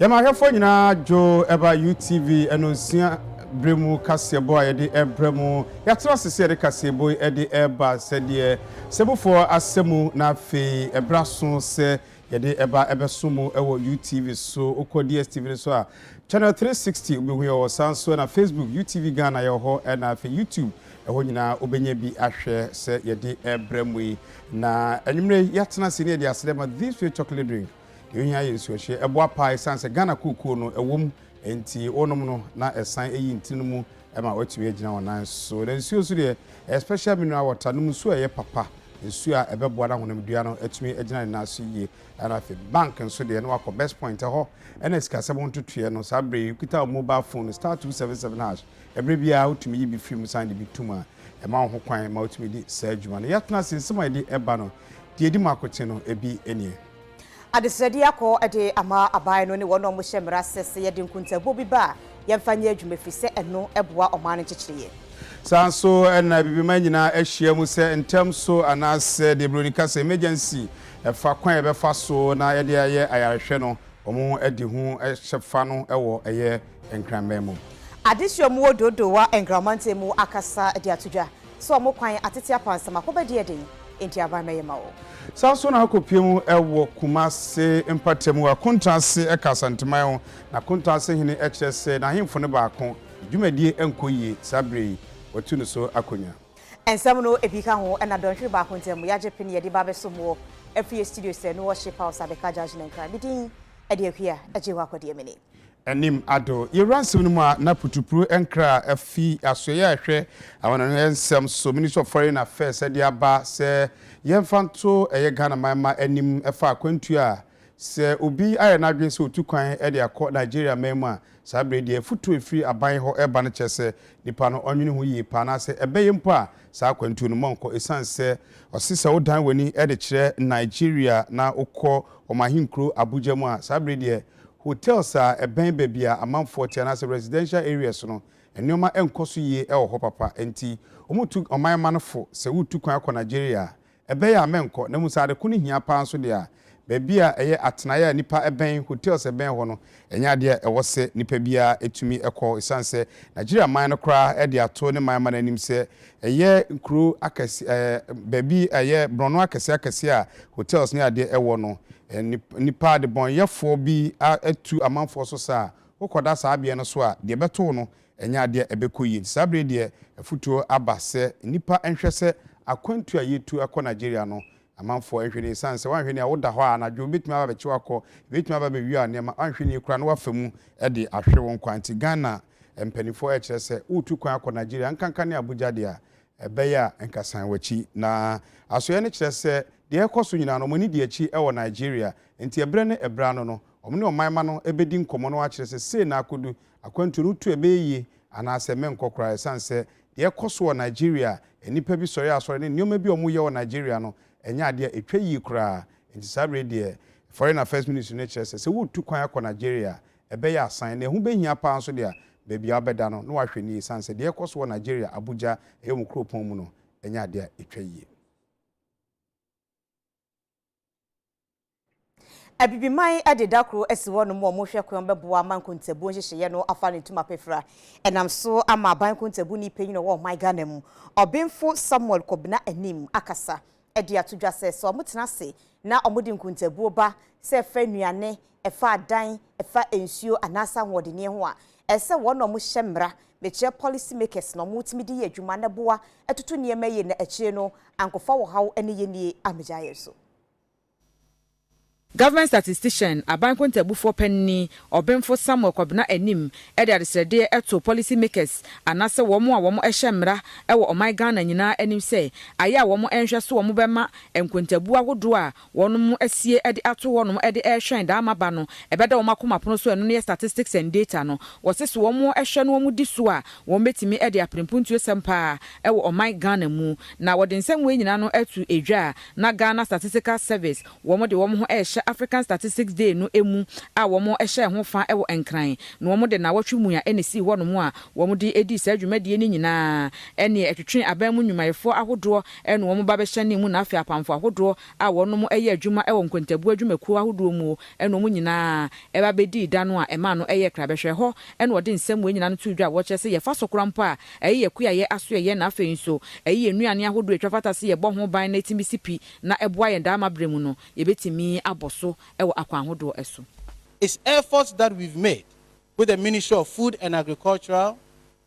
Yɛma ahwɛfoɔ nyinaa dwo ɛba UTV ɛno nsua berɛ mu kaseɛbɔ a yɛde ɛbrɛ mu. Yɛatena ase sɛ yɛde kaseɛbɔ yi ɛde ɛba sɛdeɛ sɛbufoɔ asɛ mu na afei ɛberɛ aso sɛ yɛde ɛba ɛbɛso mu ɛwɔ UTV so. Wokɔ DSTV no so a channel 360 wobɛhu yɛwɔ hɔ saa nso ɛna Facebook UTV Ghana yɛwɔ hɔ ɛna afei YouTube Ɛhɔ nyinaa wobɛnya bi ahwɛ sɛ yɛde rebrɛ mo yi. Na anwummerɛ yi yɛatena ase ne yɛde aseda ma This Way Chocolate Drink. Deɛ ohia yɛ nsuohyeɛ. Ɛboa paa ɛsiane sɛ Ghana kookoo no ɛwom nti wonom no na ɛsan ɛyi ntini no mu ma woatumi agyina wo nan so. Na nsuo nso deɛ ɛyɛ special mineral water. Nom nsuo a ɛyɛ papa, nsuo a ɛbɛboa na honamdua no atumi agyina ne nan so yie. Ɛna afei bank nso deɛ na wakɔ Best Point ɛhɔ ɛna sikasɛm ho ntotoeɛ no saa berɛ yi wokita wo mobile phone no star two seven seven hash Bere bi a wotumi yi bi fi mu san de bi tom a, ɛma wo ho kwan ma wotumi di saa adwuma no. Yɛatena ase, nsɛm a yɛde ba no, deɛ edi mu akoten no, ebi nie. Adesrɛde akɔ de ama aban no ne wɔn a wɔhyɛ mmara ase sɛ yɛde nkontaabuo bi ba a, yɛmfa nyɛ adwuma ɛfiri sɛ ɛno boa ɔman no nkyekyereɛ. Saa ara nso na Abibiman nyinaa ahyia mu sɛ ntɛm so anaasɛ deɛ Buroni ka sɛ emergency fa kwan a yɛbɛfa so na yɛde ayɛ ayarehwɛ no, wɔn adi ho kyɛfa no wɔ ɛyɛ Nkranman mu. Adesua mu wɔ Dodowa Nkran mantam mu akasa de ato dwa sɛ wɔn kwan atete apansam akɔba di ɛden, enti aban mmɛyɛ ma wɔn. Saa nso na akɔpue mu wɔ Kumase mpata mu wɔ Akonta ase ka Asanteman ho, na Akonta ase hene kyerɛ sɛ n'ahemfo no baako, ne dwumadie nkɔ yie saa berɛ yi, wɔatu no so akonnwa. Nsɛm no bi ka ho na dɔnhwere baako ntam yɛagye pene yɛde ba abɛsom wɔ afie studio sɛ No Worship House Abeka Junction Nkran. Me din de Akua Agyewakwa Diamini. anim ado. Yɛwura nsɛm no mu a, na putupru nkra a afi asoɛeɛ a ɛhwɛ amanaman nsɛm so, Ministry of Foreign Affairs, de aba sɛ yɛmfa nto ɛyɛ Ghana man mma anim ɛfa akwantuo a sɛ obi ayɛ n'adwene sɛ ɔtu kwan de akɔ Nigeria man mu a, saa berɛ yi deɛ afutuo a ɛfiri aban hɔ reba no kyerɛ sɛ nipa no ɔnwene ho yie paa anaasɛ ɛbɛyɛ mpo a saa akwantuo no monkɔ ɛsiane sɛ ɔse sɛ wodan w'ani de kyerɛ Nigeria na wokɔ wɔn ahenkuro Abuja mu a, saa berɛ yi deɛ. Hotels a ɛbɛn baabi a amanfoɔ te anaasɛ residential areas no, nneɛma nkɔ so yie wɔ hɔ papa. Enti, wɔtu ɔman mma no fo sɛ woretu kwan akɔ Nigeria a, ɛbɛyɛ a mɛnkɔ. Na mmom sɛ ade ko no hia paa nso deɛ a, baabi a ɛyɛ atenaeɛ a nnipa bɛn, hotels a ɛbɛn hɔ no, ɛnyɛ adeɛ a ɛwɔ sɛ nnipa biara tumi kɔ. Ɛsiane sɛ Nigeria man no koraa de ato ne man mma no anim sɛ Ɛyɛ nkuro akɛse ɛɛ baabi a ɛyɛ borɔno akɛseɛ akɛseɛ a hotels ne adeɛ ɛwɔ no. Nip nnipa adebɔnyɛfoɔ bi a atu amanfoɔ so sa a wokɔda saa beaɛ no so a deɛ ɛbɛto wo no ɛnyɛ adeɛ a ɛbɛkɔ yie. Nti saa berɛ yi deɛ afutuo aba sɛ nnipa nhwɛ sɛ akwantuo a yɛretu akɔ Nigeria no amanfoɔ nhwɛ nie ɛsiane sɛ woanhwɛ nie a woda hɔ a anadwo ɛbɛtumi aba abɛkye wo akɔ, ɛbɛtumi aba abɛwia wo nneɛma, woanhwɛ nie koraa na woafa mu de ahwere wo nkwa. Nti Ghana Mpanimfoɔ rekyerɛ sɛ woretu kwan akɔ Nigeria, nkanka ne Abuja deɛ a, ɛbɛyɛ a nka san w'akyi. Na asoɛeɛ no kyerɛ sɛ deɛ ɛrekɔ so nyinaa no, wɔn ani di akyi wɔ Nigeria. Enti ɛberɛ ne ɛberɛ ano no, wɔn ne ɔman mma no bɛdi nkɔmmɔ na wɔakyerɛ sɛ sei na akɔdu, akwantuo no tu a ɛbɛyɛ yie anaasɛ menkɔ koraa. Ɛsiane sɛ deɛ ɛrekɔ so wɔ Nigeria, nnipa bi sɔre asɔre ne nneɛma bi a wɔreyɛ wɔ Nigeria no, ɛnyɛ adeɛ a ɛtwa yie koraa. Enti saa berɛ yi deɛ, Foreign Affairs Ministry no kyerɛ sɛ sɛ woretu kwan akɔ Nigeria a, ɛbɛyɛ asan, na ɛho bɛhia paa nso deɛ a, baabi a wobɛda no, na wahwɛ no yie ɛsiane sɛ deɛ ɛrekɔ so wɔ Nigeria Abuja ɛyɛ wɔn kuropɔn mu no, ɛnyɛ adeɛ a ɛtwa yie. Abibiman de da koro asi hɔ nom a wɔhwɛ kwan bɛboa ma nkontabuo nhyehyɛeɛ no afa ne ntoma pefra. Ɛnam so ama aban nkontabuni panyin a ɔwɔ ɔman Ghana mu, Ɔbenfo Samuel Kobena Anim akasa de ato dwa sɛ, sɛ wɔtena ase na wɔde nkontabuo ba, sɛ ɛfa nnuane, ɛfa adan, ɛfa nsuo anaasɛ ahoɔdenneɛ ho a, ɛsɛ sɛ wɔn na wɔhyɛ mmara, mekyerɛ policy makers, na wɔtumi de yɛ adwuma na ɛboa toto nneɛma yie na akyire no ankɔfa ɔhaw ne yɛnnie ammɛgya yɛn so. Government Statistician, Aban Kontabufoɔ Panini, Ɔbenfo Samuel Kɔbena Anim de adesrɛdeɛ to policy makers anaasɛ wɔn a wɔn hyɛ mmra wɔ ɔman Ghana nyinaa anim sɛ ayɛ a wɔn nhwɛ so wɔn bɛma nkontabuo ahodoɔ a wɔnom asie de ato hɔnom de rehwɛn daa ma ba no ɛbɛda wɔn akoma pono so ɛno ne yɛ statistics and data no wɔse so wɔn hwɛ na wɔn di so a wɔn bɛtumi de apere mpuntuo sɛm paa wɔ ɔman Ghana mu na wɔde nsɛm wei nyinaa no to edwa a Na Ghana Statistical Service wɔn de wɔn ho rehyɛ African Statistics Day no mu a wɔn hyɛɛ ho fa wɔ Nkran na wɔn de nnawɔtwe mua na esii hɔ nom a wɔn de dii saa dwumadie no nyinaa ɛneɛ ɛtwetwee aban mu nnwumayɛfoɔ ahodoɔ ɛne wɔn ba bɛhyɛnee mu na afei apamfo ahodoɔ a wɔn nom yɛ adwuma wɔ nkontabuo adwumakuo ahodoɔ muo ɛne wɔn nyinaa ɛba bɛdii da no a ɛmaa no ɛyɛɛ krabɛhwɛhɔ ɛne wɔde nsɛm wei nyinaa no too dwa a wɔkyerɛ sɛ yɛfa so kora mpo a Ɛyi yɛ kuayɛ asoɛeɛ na afei nso ɛyi yɛ nnuane ahodoɔ a ɛtwa fata sɛ yɛbɔ ho ban na ɛtumi si pi na ɛboa yɛn daa ma berɛ mu no yɛbɛtumi abɔ so wɔ akwan ahodoɔ so. It's efforts that we've made with the Ministry of Food and Agricultural,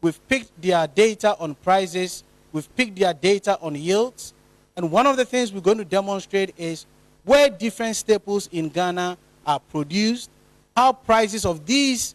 we've picked their data on prices, we've picked their data on yields and one of the things we're going to demonstrate is where different staples in Ghana are produced, how prices of these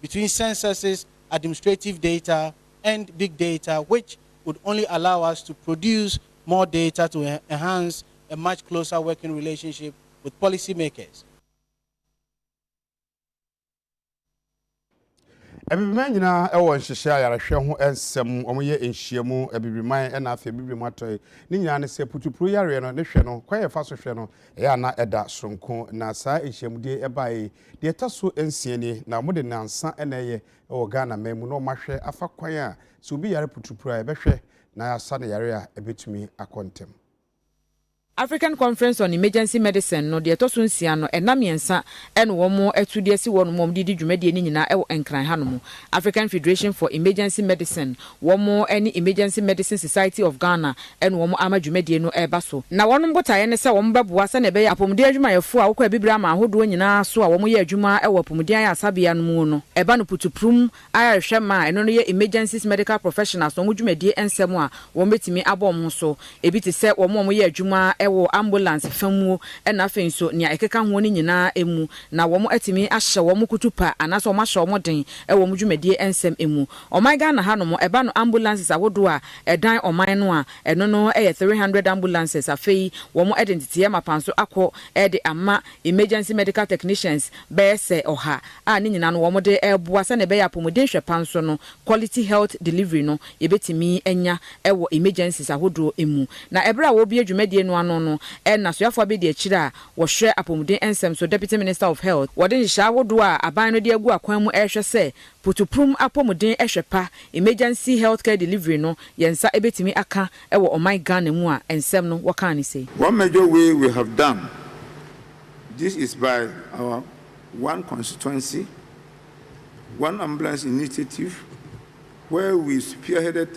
between censuses, administrative data and big data which would only allow us to produce more data to enhance a much closer working relationship with policy makers. Abibirman nyinaa wɔ nhyehyɛe ayarehwɛ ho nsɛm, wɔyɛ nhyiam, Abibirman na afei Abibirem Atɔe, ne nyinaa ne sɛ putupuru yareɛ no ne hwɛ no, kwan a yɛfa so hwɛ no, ɛyɛ a na ɛda soronko, na saa nhyiamudie yi ɛbaeɛ yi Deɛ ɛtɔ so nsia nie, na wɔde nnansa na ɛyɛ wɔ Ghana man mu na wɔahwɛ afa kwan a sɛ obi yare puturupu a yɛbɛhwɛ na yɛasa no yare a ɛbɛtumi akɔ ntɛm. African Conference on Emergency Medicine no deɛ ɛtɔ so nsia no, nna mmiɛnsa na wɔatu de asi hɔnom a wɔde redi dwumadie no nyinaa wɔ Nkran hanom. African Federation for Emergency Medicine Wɔn ne Emergency Medicine Society of Ghana ne wɔn ama dwumadie no reba so. Na wɔn botaeɛ ne sɛ wɔbɛboa sɛdeɛ ɛbɛyɛ a apɔmuden adwumayɛfoɔ a wɔkɔ abibire aman ahodoɔ nyinaa so a wɔyɛ adwuma wɔ apɔmuden ayaresabea no mu no ba no putupurum ara rehwɛ mma a ɛno no yɛ Emergencies Medical Professionals wɔn dwumadie nsɛm a wɔbɛtumi abɔ wɔn ho so. Ebi te sɛ wɔn a wɔyɛ adwuma wɔ ambulance fa muo na afei nso nea ɛkeka hoɔ no nyinaa mu na wɔatumi ahyɛ wɔn kutupa anaasɛ wɔahyɛ wɔn den wɔ wɔn dwumadie nsɛm mu. Ɔman Ghana ha nom ɛba no ambulances ahodoɔ a ɛdan ɔman no a ɛno no yɛ three hundred ambulances afei wɔn de nteteɛ mapan so akɔ de ama emergency medical technicians bɛyɛ sɛ ɔha a ne nyinaa no wɔn de reboa sɛdeɛ ɛbɛyɛ apɔmuden hwɛ pa nso no quality health delivery no yɛbɛtumi anya wɔ emergencies ahodoɔ mu na ɛberɛ a wɔrebue dwumadie no ano no na soafoɔ abɛdi akyire a wɔhwɛ apɔmuden nsɛm so Deputy Minister of Health wɔde nhyehyɛe ahodoɔ a aban no de agu akwan mu rehwɛ sɛ Putuprum apɔmuden hwɛ pa, Emergency Health Care Delivery, no, yɛn nsa bɛtumi aka wɔ ɔman Ghana mu a, nsɛm no, wɔkaa no sei. One major way we have done this is by our One Constituency, One Ambulance initiative where we spearheaded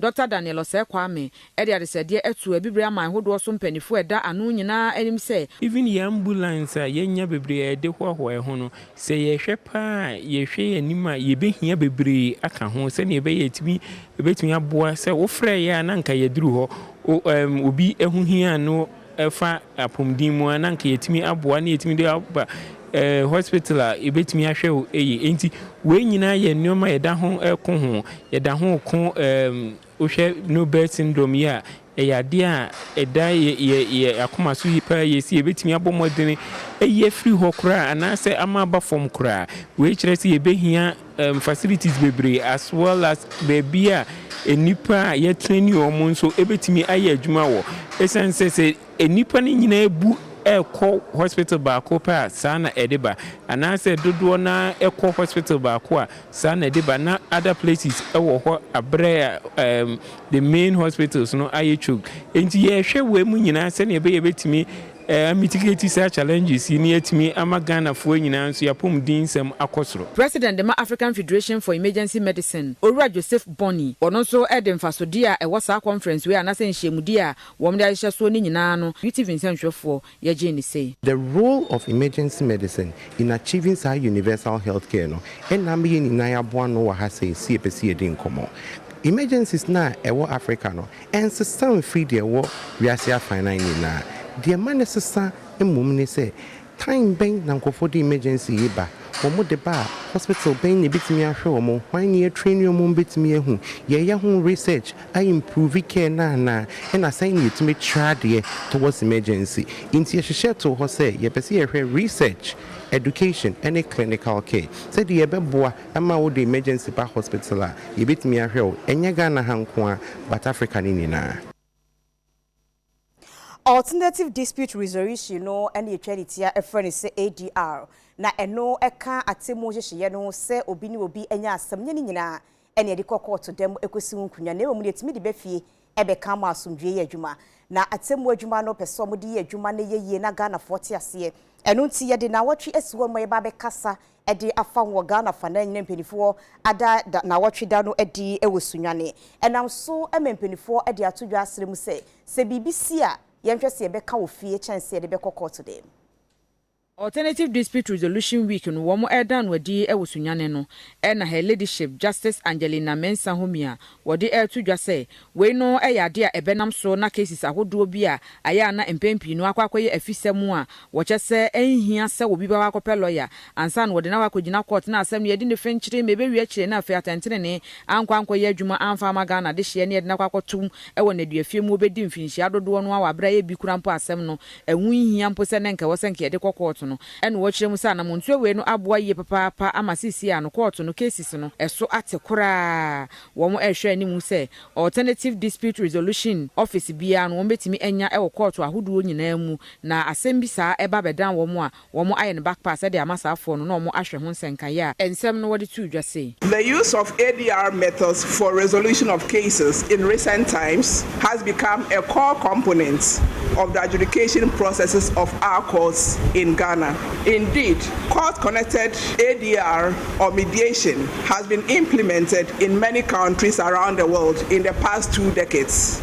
Dɔkta Daniel Osei Kwame de adesrɛdeɛ ato Abibire aman hodoɔ so mpaninfoɔ a ɛda ano nyinaa anim sɛ, Even yɛn ambulance a yɛanya bebree a yɛde hoahoa yɛn ho no, sɛ yɛhwɛ paa a, yɛhwɛ yɛn anim a, yɛbɛhia bebree aka ho sɛdeɛ ɛbɛyɛ a yɛtumi, yɛbɛtumi aboa. Sɛ wofrɛeɛ a na anka yɛaduru hɔ. O, ɛɛm, obi ɛho hia a, na. ɛfa apomden mu a na anka yɛtumi aboa na yɛtumi de aba hospital a yɛbɛtumi ahwɛ wo yie. Ɛnti wei nyinaa yɛ nnoɔma a yɛda ho ko ho. Yɛda ho ko wohwɛ no birth syndrome yi a ɛyɛ adeɛ a ɛda yɛ akoma so yi paa yie sɛ yɛbɛtumi abɔ mmɔdene ayi afiri hɔ koraa anaasɛ ama aba fam koraa. Wei kyerɛ sɛ yɛbɛhia. um, facilities bebree as well as baabi a nnipa a yɛtrɛni wɔn nso bɛtumi ayɛ adwuma wɔ. Ɛsiane sɛ sɛ nnipa no nyinaa bu ɛkɔ hospital baako pɛ a saa na ɛde ba, anaasɛ dodoɔ no ara ɛkɔ hospital baako a saa na ɛde ba, na other places wɔ hɔ aberɛ a um, the main hospitals no ayɛ choke. Enti yɛhwɛ wei mu nyinaa sɛdeɛ ɛbɛyɛ bɛtumi Ɛɛ mitigate saa challenges yi na yɛatumi ama Ghanafoɔ nyinaa nso y'apɔmudinsɛm akɔ soro. President de ma African Federation for Emergency Medicine, Owura Joseph Bony, ɔno nso de mfasodeɛ a ɛwɔ saa conference wei anaasɛ nhyiamudie a wɔde ahyehyɛ soɔ no nyinaa no UTV nsɛnhwɛfoɔ yɛ gyee no sei. The role of emergency medicine in achieving saa universal health care no ɛna ama yɛn nyinaa yɛaboa ano wɔ ha sɛ yɛsi yɛpɛ sɛ yɛdi nkɔmmɔ. Emergencies no a ɛwɔ Africa no Ɛnsesa mfiri deɛ ɛwɔ wiase afanan nyinaa. Deɛ ɛma no sesa mmom ne sɛ, time bɛn na nkurɔfoɔ de emergency yi ba? Wɔde ba a, hospital bɛn na ɛbɛtumi ahwɛ wɔn? Hwan na yɛatraini wɔn ma wɔbɛtumi ahu? Yɛyɛ ho research a improve care no anaa? Ɛna sɛn na yɛtumi tra adeɛ towards emergency? Nti yɛhyehyɛ too hɔ sɛ yɛpɛ sɛ yɛhwɛ research, education ne clinical care sɛdeɛ yɛbɛboa. Ɛma wo de emergency ba hospital a, yɛbɛtumi ahwɛ wo, ɛnyɛ Ghana ha nko ara, but Africa no nyinaa. Alternative Dispute Resolution no na yɛtwa ne tia frɛ no sɛ ADR, na ɛno ka atemmuo nhyehyeeɛ no ho sɛ obi ne obi anya asɛm nyɛ ne nyinaa na yɛde kɔ kɔɔto da mu kɔsi ho nkonnwa, na mmom deɛ ɛtumi de ba fie Ɛbɛka ama asomdwoeɛ yɛ adwuma. Na atemmuo adwuma no pɛ sɛ wɔde yɛ adwuma no yɛ yie na Ghanafoɔ te aseɛ. Ɛno nti yɛde nnawɔtwe asi hɔ ma yɛbɛ abɛkasa de afa ho wɔ Ghana afanaa nyinaa mpaninfoɔ ada da nnawɔtwe da no adi wɔ Sunyani. Ɛnam so ma mpaninfoɔ de ato dwa asrɛ mu sɛ, sɛ biribi si a, yɛnhwɛ sɛ yɛbɛka wɔ fie kyɛn sɛ yɛde bɛkɔ kɔɔto dɛm. Alternative Dispute Resolution Week no wɔn ɛreda no adi wɔ Sunyani no na Her Ladyship Justice Angelina Mensah Homie a wɔde ɛreto dwa sɛ wei no yɛ adeɛ a ɛbɛnam so na cases ahodoɔ bi a ayɛ a na mpɛn pii no akɔ akɔyɛ afisɛm a wɔkyɛ sɛ ɛnhia sɛ obi bɛkɔ akɔpɛ lawyer ansa na wɔde no akɔ akɔgyina court na asɛm no yɛde no fenkyere ma ɛbɛwie akyire na afei atɛntenenee ankɔ ankɔyɛ adwuma amfa amma Ghana dehyeɛ na yɛde no akɔ akɔto wɔ nnaduafie mu wɔbɛdi mfinhyia dodoɔ no ara wɔ aberɛ a ɛyɛ bi koraa mpo asɛm no Ɛho nhia mpo sɛ na nka ɛwɔ sɛ nka yɛde kɔ kɔɔto no. Ɛna wɔkyerɛ mu sɛ anamontuo awei no aboa yie papaapa ama seesei ano kɔɔto no cases no ɛso ate koraa. Wɔn rehwɛ anim sɛ Alternative Dispute Resolution Office biara no wɔbɛtumi anya wɔ kɔɔto ahodoɔ nyinaa mu na asɛm bi saa ba bɛdan wɔn a, Wɔn ayɛ no back pass de ama saa foɔ no na wɔn ahwɛ ho nsɛnkaeɛ a nsɛm no wɔde too dwa sei. The use of ADR methods for resolution of cases in recent times has become a core component of the adjudication processes of our courts in Ghana. Indeed, court-connected ADR or mediation has been implemented in many countries around the world in the past two decades.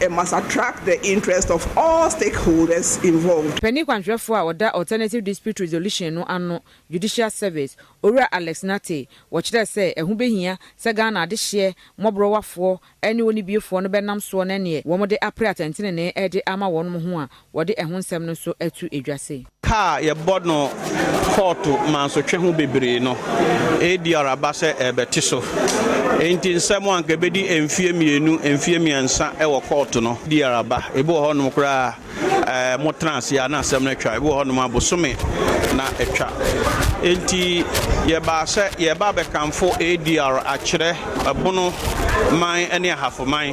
It must attract the interest of all stakeholders involved. Panin kwanhwɛfoɔ a ɔda Alternative Dispute Resolution no ano, Judicial Service, Owura Alex Nartey, wɔkyerɛɛ sɛ ɛho bɛhia sɛ Ghana adehyeɛ mmɔborɔwafoɔ ne ɔnibiefoɔ no bɛnam soɔ na ɛneɛ wɔde apere atɛntenenee de ama wɔnom ho a Wɔde ɛho nsɛm no nso ato edwa se. Ka a yɛbɔ no kɔɔto mansotwe ho bebree no, ADR aba sɛ ɛrebɛte so. Enti nsɛm a anka ebedi mfeɛ mmienu, mfeɛ mmiɛnsa wɔ kɔɔto no, ADR aba. Ebi wɔ hɔnom koraa a, motena ase ara na asɛm no atwa. Ebi wɔ hɔnom a, bosome na atwa. Enti yɛbaa sɛ yɛreba abɛkamfo ADR akyerɛ. Ɛpono man ne ahafo man.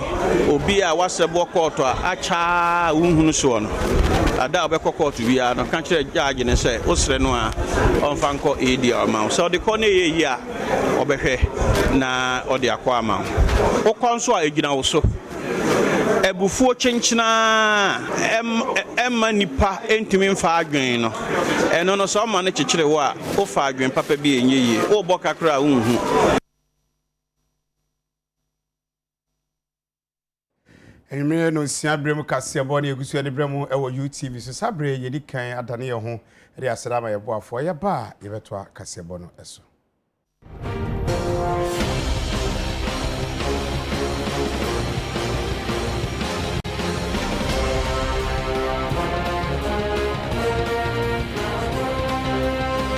Obi a w'asɛm wɔ kɔɔto a akyɛ ara a wonhu no soɔ no, da a wobɛkɔ kɔɔto biara no, ka kyerɛ gyagye no sɛ wosrɛ no a ɔmfa nkɔ ADR ma wo. Sɛ ɔde kɔ na ɛyɛ yie a, ɔbɛhwɛ na ɔde akɔ ama wo. Wokɔ nso a, ɛgyina wo so. Abufuo kyenkyena a ɛmma nnipa ntumi mfa adwene no, ɛno no sɛ ɔma no kyekyere wo a, wofa adwene papa bi a ɛnyɛ yie. Wobɔ ka koraa a wonhu. Anwummere nonsia berɛ mu kaseɛbɔ ne yɛgu so yɛde berɛ mu wɔ UTV so. Saa berɛ yi yɛdi kan adane yɛn ho de aseda ama yɛn boafoɔ. Yɛba a yɛbɛtoa kaseɛbɔ no so.